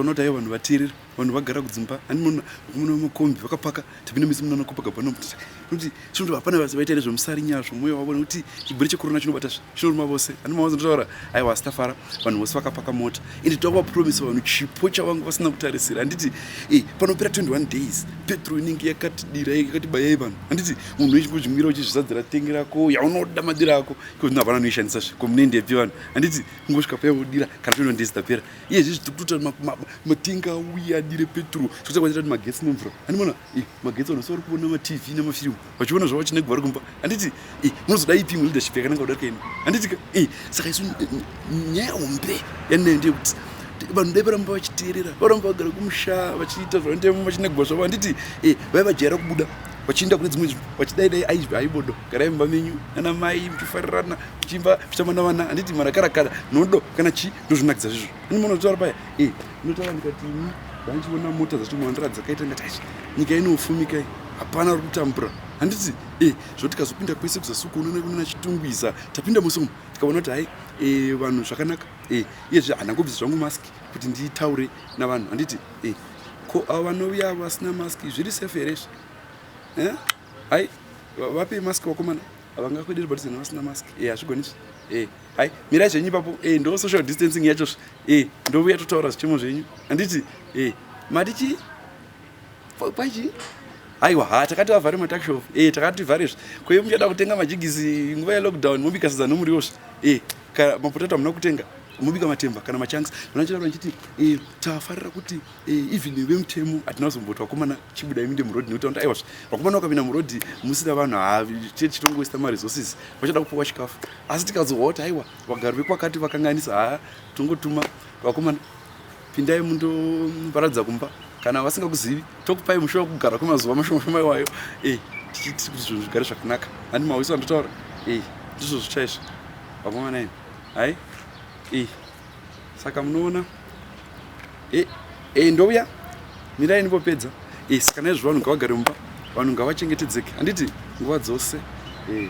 unoti aiwa vanhu vateerera vanhu vagara kudzimba ani munhu muna makombi vakapaka tapinda misi munana kopaka bano kuti chinoto hapana vasi vaita ere zvemusari nyaya zvomoyo wavo nekuti chiburi chekorona chinobata zve chinoruma vose ani mavazo ndotaura aiwa asi tafara vanhu vose vakapaka mota ende takuvapromisa vanhu chipo chavanga vasina kutarisira handiti e eh, panopera 21 days petro inenge yakatidira yakatibayai vanhu handiti munhu wechikuzvimira uchizvizadzira tengi rako yaunoda madira ako iko zvino havana noishandisa zve komunoendepi vanhu handiti kungosvika paya wodira kana toino ndezitapera iye zvezvi tikutoita matengi auye adire petro sotakwaita kuti magetsi nemvura handimona eh, magetsi vanhu savari kuona matv nemafirimu vachiona zvavo vachine kuvari kumba handiti eh, munozoda ipi imwe leadership yakananga kudarika ino handitika eh, saka isu nyaya hombe yanayo ndeyekuti vanhu dai varamba vachiteerera varamba vagara kumusha vachiita zvavanoita vachinegwa zvavo handiti vaivajaira kubuda vachiinda kune dzimwe nzvimbo vachidai dai aizvi aibodo garai mumba menyu nana mai muchifarirana muchiimba muchitamba navana handiti marakarakara nodo kana chii ndozvinakidza zvizvo ini mona totaura paya e eh, inotaura ndikati ini vandichiona mota dzatomwandira dzakaita ngati achi nyika inofumika i hapana uri kutambura handiti e eh, zvoti kazopinda kwese kuzasuku unoona kunana chitungwiza tapinda musi umu tikaona kuti hai eh, vanhu zvakanaka e iyezve handangobvisa zvangu mask kuti nditaure navanhu handiti e Ko ava vanouya vasina mask zviri safe here izvi? Eh? Hai vape mask vakomana havangakwederi but zvinhu vasina mask. Eh hazvigoni izvi. Eh hai mirai zvenyu ipapo. Eh ndo social distancing yacho zvi. Eh ndovuya totaura zvichemo zvenyu. Handiti? Eh mati chi? Kwai chi? Aiwa ha takati vavhare matak shop. Eh takati vhare zvi. Ko iye muchada kutenga majigisi nguva yelockdown mobika sadza nomuriwo zvi. Eh Kana mapotato hamuna kutenga mobika matemba kana machanks vanachitaura ndichiti eh, tafarira kuti eh, even vemutemo hatina kuzomboti vakomana chibuda iminde murodhi nekuti vanoti aiwazve vakomana vakapinda murodhi musina vanhu haatie tichitongoisa maresources vachada kupiwa chikafu asi tikazohwa kuti aiwa vagari vekwakati vakanganisa haa tongotuma vakomana pindai mundoparadza kumba kana vasingakuzivi tokupai musha wekugara kwemazuva mashoma shoma iwayo e tichiiti kuti zvinhu zvigare zvakanaka handi mawiso andotaura e ndizvo zvichaizvo vakomana ini hai e saka munoona e e ndouya mirai ndipopedza e saka naizvo vanhu ngavagare mumba vanhu ngavachengetedzeke handiti nguva dzose e